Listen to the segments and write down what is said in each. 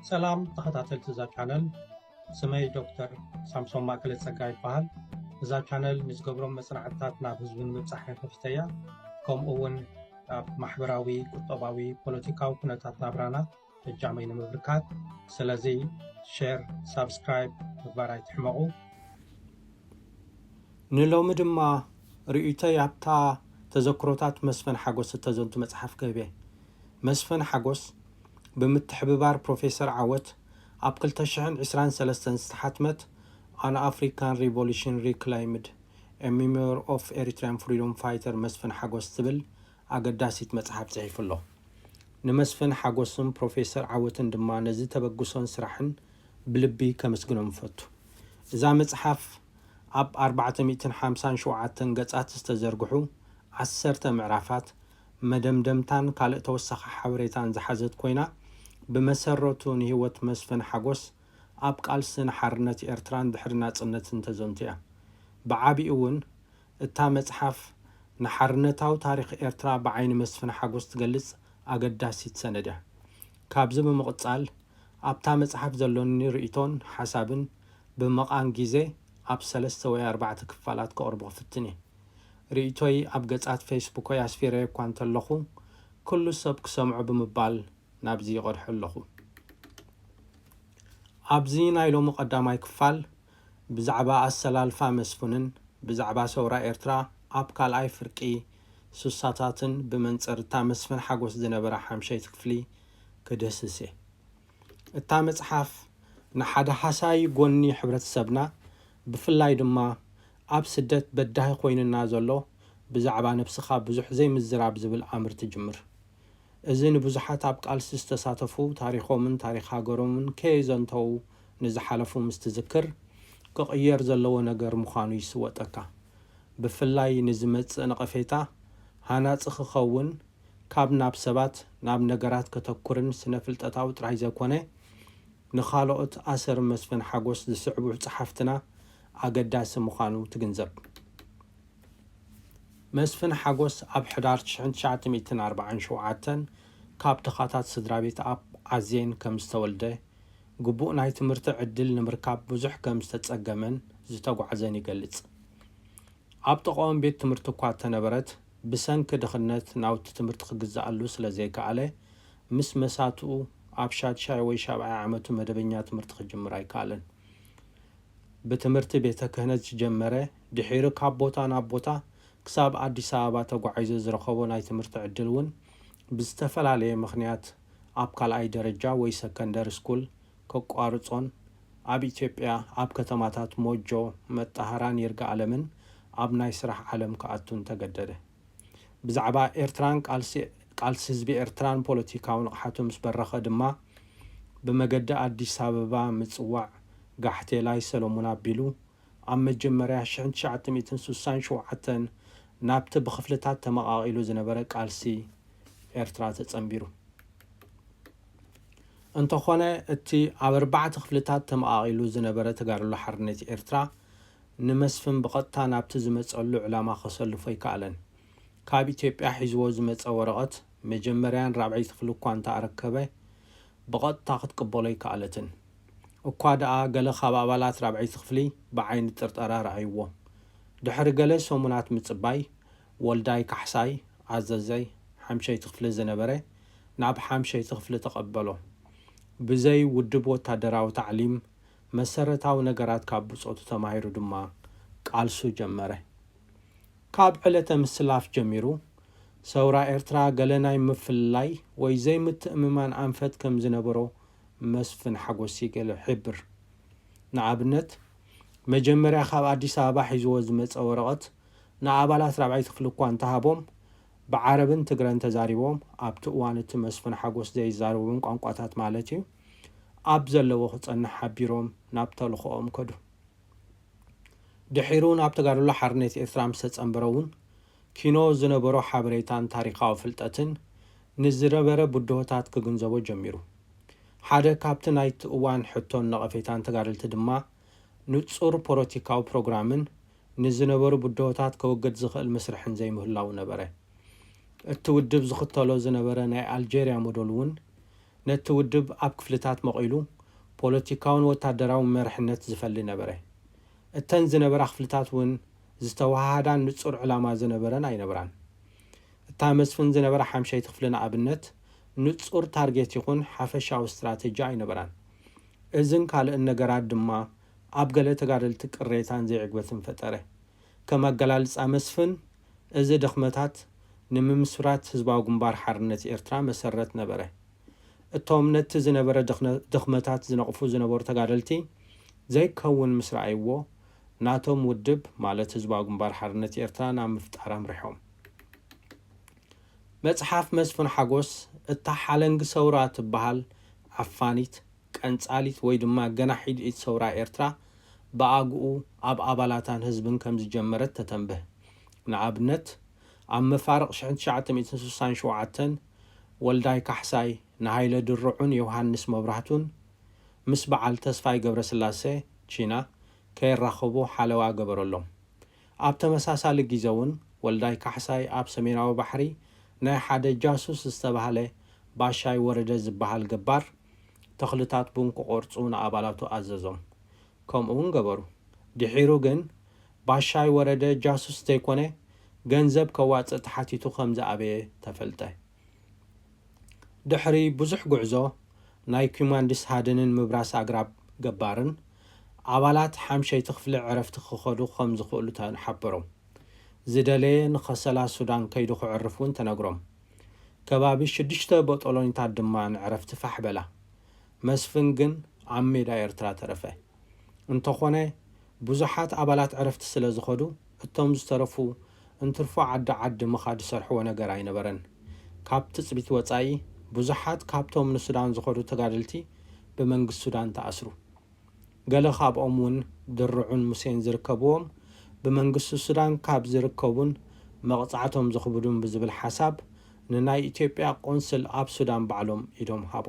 ሰላም ተኸታተልቲ እዛ ቻነል ስመይ ዶክተር ሳምሶም ማእከለ ጸጋ ይበሃል እዛ ቻነል ንዝገብሮም መጽናዕትታት ናብ ህዝቢ ንምብጻሕ ከፊተ እያ ከምኡ እውን ኣብ ማሕበራዊ ቁጠባዊ ፖለቲካዊ ኩነታት ናብራና እጃመይ ንምብርካት ስለዚ ሸር ሳብስክራይብ ምግባር ኣይትሕመቑ ንሎሚ ድማ ርእይቶይ ኣብታ ተዘክሮታት መስፍን ሓጎስ እተዘንቱ መጽሓፍ ክህብ እየ መስፍን ሓጎስ ብምትሕብባር ፕሮፌሰር ዓወት ኣብ ክልተ ሽሕን ዕስራን ሰለስተን ዝተሓትመት ኣን ኣፍሪካን ሪቮሉሽን ሪክላይምድ፣ ኤ ሚሞየር ኦፍ ኤሪትሪያን ፍሪዶም ፋይተር መስፍን ሓጎስ ትብል ኣገዳሲት መፅሓፍ ፅሒፉ ኣሎ። ንመስፍን ሓጎስን ፕሮፌሰር ዓወትን ድማ ነዚ ተበግሶን ስራሕን ብልቢ ከምስግኖም እፈቱ። እዛ መፅሓፍ ኣብ ኣርባዕተ ሚእትን ሓምሳን ሸውዓተን ገፃት ዝተዘርግሑ ዓሰርተ ምዕራፋት መደምደምታን ካልእ ተወሳኺ ሓበሬታን ዝሓዘት ኮይና፣ ብመሰረቱ ንህይወት መስፍን ሓጎስ ኣብ ቃልሲ ንሓርነት ኤርትራን ድሕሪ ናጽነትን ተዘንቱ እያ። ብዓቢኡ ውን እታ መጽሓፍ ንሓርነታዊ ታሪኽ ኤርትራ ብዓይኒ መስፍን ሓጎስ ትገልጽ ኣገዳሲት ሰነድ እያ። ካብዚ ብምቕጻል ኣብታ መጽሓፍ ዘሎኒ ርእይቶን ሓሳብን ብምቛም ግዜ ኣብ ሰለስተ ወይ ኣርባዕተ ክፋላት ከቕርቦ ክፍትን እየ። ርእይቶይ ኣብ ገጻት ፌስቡከይ ኣስፊረዮ እኳ እንተለኹ፣ ኩሉ ሰብ ክሰምዖ ብምባል ናብዚ ይቐድሖ ኣለኹ። ኣብዚ ናይ ሎሚ ቀዳማይ ክፋል፣ ብዛዕባ ኣሰላልፋ መስፍንን ብዛዕባ ሰውራ ኤርትራ ኣብ ካልኣይ ፍርቂ ሱሳታትን ብመንጽር እታ መስፍን ሓጎስ ዝነበራ ሓምሸይቲ ክፍሊ ክድህስስ እየ። እታ መጽሓፍ ንሓደ ሃሳዪ ጎኒ ሕብረተሰብና ብፍላይ ድማ ኣብ ስደት በዳሂ ኮይኑና ዘሎ ብዛዕባ ነብስኻ ብዙሕ ዘይምዝራብ ዝብል ኣምር ትጅምር። እዚ ንብዙሓት ኣብ ቃልሲ ዝተሳተፉ ታሪኾምን ታሪኽ ሃገሮምን ከየዘንተዉ ንዝሓለፉ ምስ ትዝክር ክቕየር ዘለዎ ነገር ምዃኑ ይስወጠካ። ብፍላይ ንዝመጽእ ነቐፌታ ሃናጺ ክኸውን ካብ ናብ ሰባት ናብ ነገራት ከተኩርን ስነፍልጠታዊ ጥራይ ዘይኮነ ንኻልኦት ኣሰር መስፍን ሓጎስ ዝስዕቡ ጸሓፍትና ኣገዳሲ ምዃኑ ትግንዘብ። መስፍን ሓጎስ ኣብ ሕዳር ትሽሕን ትሽዓተ ሚእትን ኣርብዓን ሸውዓተን ካብ ድኻታት ስድራቤት ኣብ ዓዜን ከም ዝተወልደ፣ ግቡእ ናይ ትምህርቲ ዕድል ንምርካብ ብዙሕ ከም ዝተጸገመን ዝተጓዕዘን ይገልጽ። ኣብ ጥቓኦም ቤት ትምህርቲ እኳ እተነበረት፣ ብሰንኪ ድኽነት ናውቲ ትምህርቲ ክግዝኣሉ ስለዘይከኣለ፣ ምስ መሳትኡ ኣብ ሻድሻይ ወይ ሻብዓይ ዓመቱ መደበኛ ትምህርቲ ክጅምር ኣይከኣለን። ብትምህርቲ ቤተ ክህነት ዝጀመረ፣ ድሒሩ ካብ ቦታ ናብ ቦታ ክሳብ ኣዲስ ኣበባ ተጓዒዙ ዝረኸቦ ናይ ትምህርቲ ዕድል እውን ብዝተፈላለየ ምኽንያት ኣብ ካልኣይ ደረጃ ወይ ሰከንደሪ ስኩል ከቋርጾን ኣብ ኢትዮጵያ ኣብ ከተማታት ሞጆ፣ መጣሃራን ይርጋኣለምን ኣብ ናይ ስራሕ ዓለም ክኣቱን ተገደደ። ብዛዕባ ኤርትራን ቃልሲ ቃልሲ ህዝቢ ኤርትራን ፖለቲካዊ ንቕሓቱ ምስ በረኸ ድማ ብመገዲ ኣዲስ ኣበባ ምጽዋዕ ጋሕቴላይ ሰለሙን ኣቢሉ ኣብ መጀመርያ ሽሕን ትሽዓተ ሚእትን ስሳን ሸውዓተን ናብቲ ብኽፍልታት ተመቓቒሉ ዝነበረ ቃልሲ ኤርትራ ተጸንቢሩ። እንተኾነ እቲ ኣብ ኣርባዕተ ክፍልታት ተመቓቒሉ ዝነበረ ተጋድሎ ሓርነት ኤርትራ ንመስፍን ብቐጥታ ናብቲ ዝመጸሉ ዕላማ ከሰልፎ ኣይከኣለን። ካብ ኢትዮጵያ ሒዝዎ ዝመጸ ወረቐት መጀመርያን ራብዐይቲ ክፍሊ እኳ እንተ ኣረከበ ብቐጥታ ክትቅበሎ ኣይከኣለትን። እኳ ደኣ ገለ ካብ ኣባላት ራብዐይቲ ክፍሊ ብዓይኒ ጥርጠራ ረኣዩዎ። ድሕሪ ገለ ሰሙናት ምጽባይ፣ ወልዳይ ካሕሳይ፣ ኣዘዘይ ሓምሸይቲ ክፍሊ ዝነበረ፣ ናብ ሓምሸይቲ ክፍሊ ተቐበሎ። ብዘይ ውድብ ወታደራዊ ታዕሊም፣ መሰረታዊ ነገራት ካብ ብጾቱ ተማሂሩ ድማ ቃልሱ ጀመረ። ካብ ዕለተ ምስላፍ ጀሚሩ፣ ሰውራ ኤርትራ ገለ ናይ ምፍልላይ ወይ ዘይምትእምማን ኣንፈት ከም ዝነበሮ መስፍን ሓጎስሲ ገለ ሕብር። ንኣብነት፣ መጀመርያ ካብ ኣዲስ ኣበባ ሒዝዎ ዝመጸ ወረቐት ንኣባላት ራብዓይ ክፍሊ እኳ እንተሃቦም፣ ብዓረብን ትግረን ተዛሪቦም፣ ኣብቲ እዋን እቲ መስፍን ሓጎስ ዘይዛረቦም ቋንቋታት ማለት እዩ፣ ኣብ ዘለዎ ክጸንሕ ሓቢሮም ናብ ተልኾኦም ከዱ። ድሒሩ ናብ ተጋድሎ ሓርነት ኤርትራ ምስተጸንበረ'ውን ኪኖ ዝነበሮ ሓበሬታን ታሪኻዊ ፍልጠትን ንዝነበረ ብድሆታት ክግንዘቦ ጀሚሩ። ሓደ ካብቲ ናይቲ እዋን ሕቶን ነቐፌታን ተጋደልቲ ድማ ንጹር ፖለቲካዊ ፕሮግራምን ንዝነበሩ ብድሆታት ከወግድ ዝኽእል ምስርሕን ዘይምህላዉ ነበረ። እቲ ውድብ ዝኽተሎ ዝነበረ ናይ ኣልጀርያ ሞዶል እውን ነቲ ውድብ ኣብ ክፍልታት መቒሉ ፖለቲካውን ወታደራውን መርሕነት ዝፈሊ ነበረ። እተን ዝነበራ ክፍልታት እውን ዝተወሃሃዳን ንጹር ዕላማ ዝነበረን ኣይነበራን። እታ መስፍን ዝነበራ ሓምሸይቲ ክፍሊ ንኣብነት፣ ንጹር ታርጌት ይኹን ሓፈሻዊ ስትራተጂ ኣይነበራን። እዝን ካልእን ነገራት ድማ ኣብ ገለ ተጋደልቲ ቅሬታን ዘይዕግበትን ፈጠረ። ከም ኣገላልጻ መስፍን፣ እዚ ድኽመታት ንምምስራት ህዝባዊ ግንባር ሓርነት ኤርትራ መሰረት ነበረ። እቶም ነቲ ዝነበረ ድኽመታት ዝነቕፉ ዝነበሩ ተጋደልቲ ዘይከውን ምስ ረኣይዎ፣ ናቶም ውድብ ማለት ህዝባዊ ግንባር ሓርነት ኤርትራ ናብ ምፍጣር ኣምሪሖም። መጽሓፍ መስፍን ሓጎስ እታ ሓለንጊ ሰውራ ትበሃል ዓፋኒት፣ ቀንጻሊት ወይ ድማ ገናሒድ ኢድ ሰውራ ኤርትራ ብኣግኡ ኣብ ኣባላታን ህዝብን ከም ዝጀመረት ተተንብህ። ንኣብነት ኣብ መፋርቕ ሽሕን ትሽዓተ ሚእትን ስሳን ሸውዓተን ወልዳይ ካሕሳይ ንሃይለ ድርዑን ዮውሃንስ መብራህቱን ምስ በዓል ተስፋይ ገብረስላሰ፣ ቺና፣ ከይራኸቡ ሓለዋ ገበረሎም። ኣብ ተመሳሳሊ ጊዘ'ውን ወልዳይ ካሕሳይ ኣብ ሰሜናዊ ባሕሪ ናይ ሓደ ጃሱስ ዝተባህለ ባሻይ ወረደ ዝበሃል ገባር ተኽልታት ቡን ክቖርጹ ንኣባላቱ ኣዘዞም። ከምኡ'ውን ገበሩ። ድሒሩ ግን ባሻይ ወረደ ጃሱስ ዘይኮነ ገንዘብ ከዋጽእ ተሓቲቱ ከምዝኣበየ ተፈልጠ። ድሕሪ ብዙሕ ጉዕዞ ናይ ኲማንዲስ ሃድንን ምብራስ ኣግራብ ገባርን፣ ኣባላት ሓምሸይቲ ክፍሊ ዕረፍቲ ክኸዱ ከም ዝኽእሉ ተሓበሮም። ዝደለየ ንኸሰላ ሱዳን ከይዱ ክዕርፍ እውን ተነግሮም። ከባቢ ሽዱሽተ ቦጦሎኒታት ድማ ንዕረፍቲ ፋሕ በላ። መስፍን ግን ኣብ ሜዳ ኤርትራ ተረፈ። እንተኾነ ብዙሓት ኣባላት ዕረፍቲ ስለ ዝኸዱ እቶም ዝተረፉ እንትርፎ ዓዲ ዓዲ ምኻድ ዝሰርሕዎ ነገር ኣይነበረን። ካብ ትጽቢት ወጻኢ ብዙሓት ካብቶም ንሱዳን ዝኸዱ ተጋደልቲ ብመንግስቲ ሱዳን ተኣስሩ። ገለ ካብኦም እውን ድርዑን ሙሴን ዝርከብዎም ብመንግስቲ ሱዳን ካብ ዝርከቡን መቕጻዕቶም ዘኽብዱን ብዝብል ሓሳብ ንናይ ኢትዮጵያ ቆንስል ኣብ ሱዳን ባዕሎም ኢዶም ሃቡ።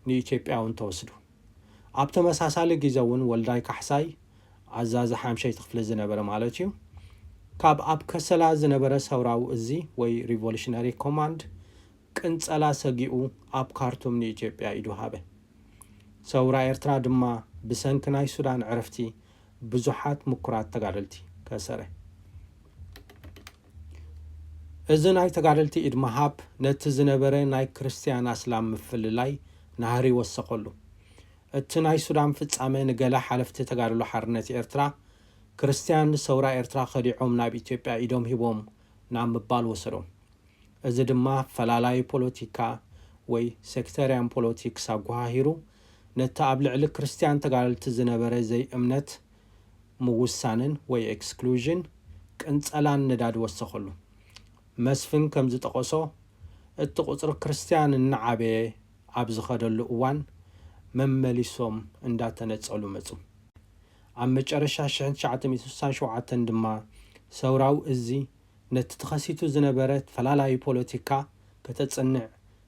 ንኢትዮጵያ እውን ተወስዱ። ኣብ ተመሳሳሊ ግዘ እውን ወልዳይ ካሕሳይ፣ ኣዛዚ ሓምሸይቲ ክፍሊ ዝነበረ ማለት እዩ፣ ካብ ኣብ ከሰላ ዝነበረ ሰውራዊ እዚ ወይ ሪቮሉሽነሪ ኮማንድ ቅንፀላ ሰጊኡ ኣብ ካርቱም ንኢትዮጵያ ኢዱ ሃበ። ሰውራ ኤርትራ ድማ ብሰንኪ ናይ ሱዳን ዕርፍቲ ብዙሓት ምኩራት ተጋደልቲ ከሰረ። እዚ ናይ ተጋደልቲ ኢድ ምሃብ ነቲ ዝነበረ ናይ ክርስትያን ኣስላም ምፍልላይ ናህሪ ወሰኸሉ። እቲ ናይ ሱዳን ፍጻመ ንገለ ሓለፍቲ ተጋድሎ ሓርነት ኤርትራ ክርስትያን ንሰውራ ኤርትራ ከዲዖም ናብ ኢትዮጵያ ኢዶም ሂቦም ናብ ምባል ወሰዶም። እዚ ድማ ፈላላዪ ፖለቲካ ወይ ሴክተርያን ፖለቲክስ ኣጎሃሂሩ ነቲ ኣብ ልዕሊ ክርስትያን ተጋደልቲ ዝነበረ ዘይእምነት ምውሳንን ወይ ኤክስክሉዥን፣ ቅንጸላን ነዳዲ ወሰኸሉ። መስፍን ከም ዝጠቐሶ፣ እቲ ቁጽሪ ክርስትያን እናዓበየ ኣብ ዝኸደሉ እዋን መመሊሶም እንዳተነጸሉ መጹ። ኣብ መጨረሻ ሽሕን ትሽዓተ ሚእትን ስሳን ሸውዓተን ድማ ሰውራዊ እዚ ነቲ ተኸሲቱ ዝነበረ ተፈላላዩ ፖለቲካ ከተጽንዕ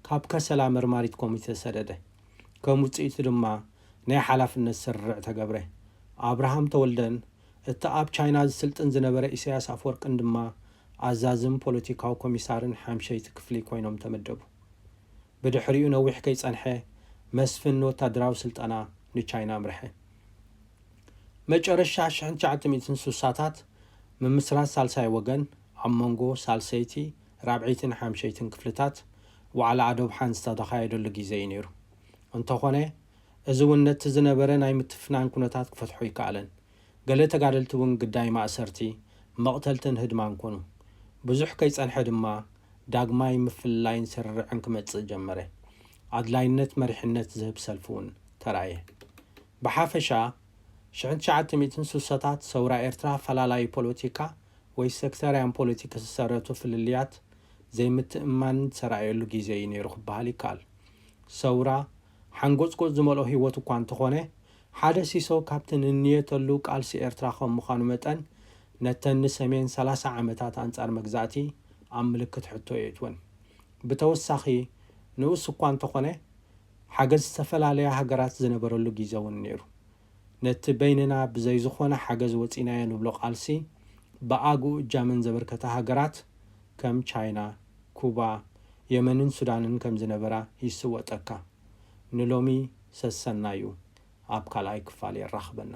ካብ ከሰላ መርማሪት ኮሚቴ ተሰደደ። ከም ውጽኢቱ ድማ ናይ ሓላፍነት ስርርዕ ተገብረ። ኣብርሃም ተወልደን እቲ ኣብ ቻይና ዝስልጥን ዝነበረ ኢሳያስ ኣፍወርቅን ድማ ኣዛዝም ፖለቲካዊ ኮሚሳርን ሓምሸይቲ ክፍሊ ኮይኖም ተመደቡ። ብድሕሪኡ ነዊሕ ከይጸንሐ መስፍን ንወታደራዊ ስልጠና ንቻይና ኣምርሐ። መጨረሻ ኣሽሕን ትሽዓተ ሚእትን ስሳታት ምምስራት ሳልሳይ ወገን ኣብ መንጎ ሳልሰይቲ፣ ራብዐይትን ሓምሸይትን ክፍልታት ዋዕላ ኣዶብሓን ዝተካየደሉ ግዜ እዩ ነይሩ። እንተኾነ እዚ እውን ነቲ ዝነበረ ናይ ምትፍናን ኩነታት ክፈትሖ ኣይከኣለን። ገለ ተጋደልቲ እውን ግዳይ ማእሰርቲ፣ መቕተልትን ህድማን ኮኑ። ብዙሕ ከይጸንሐ ድማ ዳግማይ ምፍልላይን ስርርዕን ክመጽእ ጀመረ። ኣድላይነት መሪሕነት ዝህብ ሰልፊ እውን ተራእየ። ብሓፈሻ፣ ሽሕን ትሽዓተ ሚእትን ስሳታት ሰውራ ኤርትራ ኣፈላላዪ ፖለቲካ ወይ ሰክተርያን ፖለቲክ ዝሰረቱ ፍልልያት ዘይምትእምማንን ዝተራእየሉ ግዜ እዩ ነይሩ ክበሃል ይከኣል። ሰውራ፣ ሓንጎጽጎጽ ዝመልኦ ህይወት እኳ እንተኾነ፣ ሓደ ሲሶ ካብቲ ንንየተሉ ቃልሲ ኤርትራ ከም ምዃኑ መጠን፣ ነተን ንሰሜን ሰላሳ ዓመታት ኣንጻር መግዛእቲ ኣብ ምልክት ሕቶ የእትወን። ብተወሳኺ፣ ንኡስ እኳ እንተኾነ፣ ሓገዝ ዝተፈላለያ ሃገራት ዝነበረሉ ጊዘ ውን ነይሩ። ነቲ በይንና ብዘይ ዝኾነ ሓገዝ ወጺእናዮ ንብሎ ቃልሲ ብኣግኡ እጃመን ዘበርከታ ሃገራት ከም ቻይና፣ ኩባ፣ የመንን ሱዳንን ከም ዝነበራ ይስወጠካ። ንሎሚ ሰሰናዩ ኣብ ካልኣይ ክፋል የራኽበና።